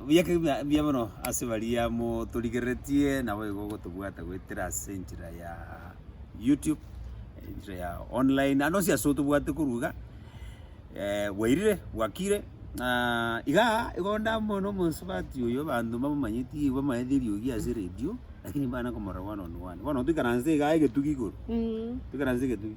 biake bia bia bono ase baria motorigereretie naboigo ogotobwata goetera ase enchera yaa YouTube, enchera ya online, naende onsi ase otobwate korwa iga, bwairire, bwakire, na igaa igo ndamanywa na omosubati oyo abanto mbamomanyeti bamaete eriogi ase eredio, lakini mbana komorora one on one. Bono toikaranse igaa egetugi igoro, toikaranse egetugi.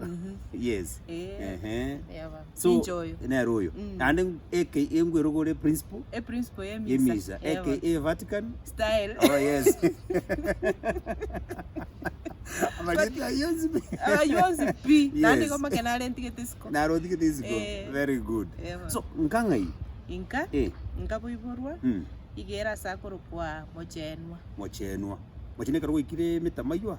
Mhm. yes Eh, ehe yaba. so Ninche oyo. nere oyo Mm. naende eke engwerogore principal E principle ye misa. yemisa Yaba. aka vatican Style. oh yes amarita yonsi Abayonsi pi. Naende Yes. goma kena are ntigete siko. narotigete isiko Eh. very good Yaba. so nkang'ai Inka. eh Inka boiborwa. mm, Igera ase akorokwa mochenwa. mochenwa mochene ekero gwaikire emetamaiywa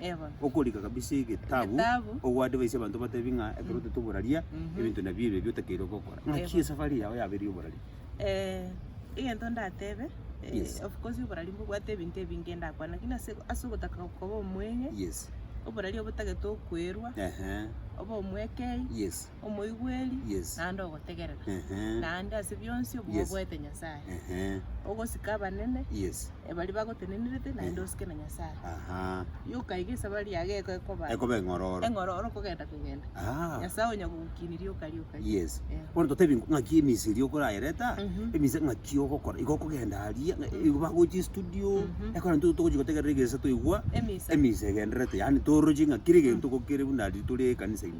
Eba. Okorika kabisa egetabu, Egetabu. ogoadvise abanto obatebi ng'a ekero otaete oboraria, Mhm. ebinto nabi ebi ebi otakeire gokora. Ng'aki Eba. esafari yao yabeire y'oboraria? Eh, egento ndatebe, eh, Yes. of course oboraria mbobwate ebinto ebinge ndakwana, lakini ase ase ogotaka koba omweng'e, Yes. oboraria obotagete okoirwa, Ehe. obe omwekei, Yes. omoigweri, Yes. naende ogotegerera, Ehe. naende ase bionsi Yes. obogoete Nyasae, Ehe. ogosika abanene Yes. baria bagotenenerete, naende Ehe. osike na Nyasae. Aha. Yoka iga esabari yago eko ekoba Ekoba eng'ororo. eng'ororo okogenda kogenda. Ah. Nyasae onya kogokini rioka rioka. Yes. Eh. Bono totebie ng'aki emisiri okorayereta, Mhm. emise ng'aki ogokora. Igo okogenda aria, ng'a- igo bagochia estudio, Mhm. ekero intwe togochia gotegerera egesa twaigwa, Emisa. emisa egendererete. Yaani toroche ng'a kera egento gokere buna riria tore ekanisa ime.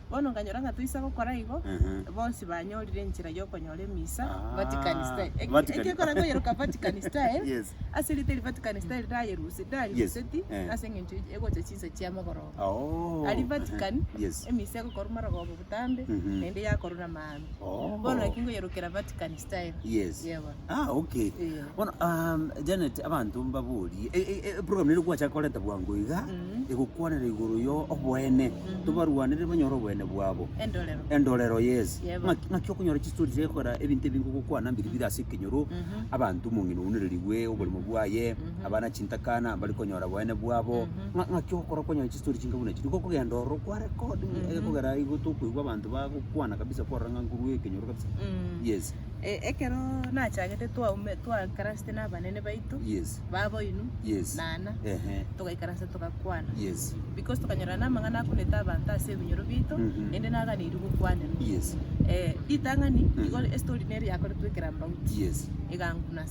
Bono nkanyora ng'a toisa gokora igo, bonsi banyorire enchera y'okonyora emisa, Vatican Style. Eki- Vatican. Eki ekora koyeroka Vatican Style, Yes. ase erita eria Vatican Style ndayerusi- ndarieruseti, Yes, eh. ase eng'encho echi- egocha chinsa chia mogoroba. Oh. Aria Vatican, Yes. emisa egokorwa marogoba botambe, Mhm. naende yakorwa na amaabera. Ame. Oh. Bono naki ngoyerokera Vatican style. Yes. Yebo. Ah, okay. Eh. Bono um, Janet abanto mbaborie e, e, e, program ere gwacha korenta bwango iga Mm. egokwanera igoro yo obwene Mhm. tobarwanere banyore obwene bwabo Endorero. endorero yes Yebo. Ng'aki- ng'aki okonyora chistori chekora ebinto ebinge ogokwana mbiri bire ase ekenyoro Mhm. abanto omong'ina ounererigwe oborimo bwaye Mhm. abana chintakana mbari konyora bwene bwabo Mhm. Ng'a- ng'aki ogokora kwanyora chistori chinga buna echi niko okogenda ororo kwa record Mhm. egekogera aigo tokoigwa abanto bagokwana kabisa kwarora ng'a nguru ekenyoro kabisa Mm. yes E- ekero nachagete twaume twakarasete na abanene baito yes baba oino yes nana ehe togaikaransa togakwana yes because tokanyora na amang'ana akunete abanto ase ebinyoro bito Mhm. naende naganeirie gokwanenwa yes Eh, ritang'ani Mhm. igo estory neri yakoretwe ekerambauti yes eganguna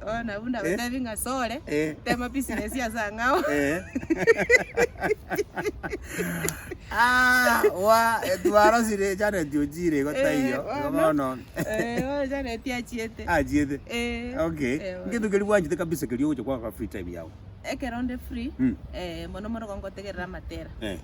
Bono abwo nabatebi ng'a sore tema business ase ang'ao. Twarosire Janet ochiire igo taiyo, igo bono. Bono Janet achiete. Achiete. Okay. Ngento keria bwanchete kabisa keria ogocha kwagoka free time yago. Ekero nde free, mono mono igo ngotegerera amatera.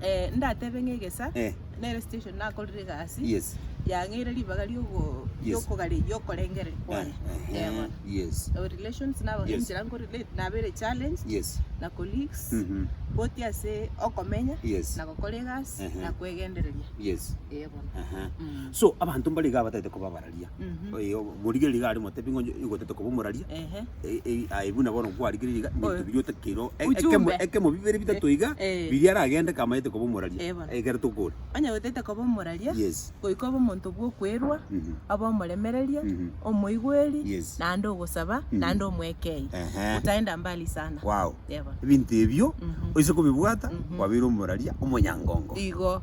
Eh, ndatebe ng'a egesa Eh. nere station nakorire egasi Yes. yang'eire ribaga riogo Yes. riokogari riokorengereria kwane Eh, Eh, eh, bono. Yes. Our relations nabo Yes. enchera nkorelate nabere challenge Yes. na colleagues Mhm. both ase okomenya Yes. na gokora egasi Ehe. na kwegendereria Yes. Eh, bono. Aha. Mm. So abanto mbariga abatagete koba abara. aria, Mhm. oyo obo- omorigereria iga are omotebi ng'a onye igotete koba omoraria, Ehe. e- e- aye buna bono kwarigereiri iga, ebinto Oyo. biria otakeire o- e- ekemo- Ujumbe. ekemo bibere bitato iga, Eh. biria aragende kamaete koba omoraria, Eh, bono. ekero tokore. Onye gotete koba omoraria, Yes. goika obe omonto bw'okwerwa, Mhm. obe omoremereria, Mhm. omoigweri, Yes. naende ogosaba, Mhm. naende omwekei. Ehe. Utaenda mbali sana. Wow. Eh, bono. Ebinto ebio, Mhm. oise kobibwata, Mhm. kwabeire omoraria omonyangongo. Igo.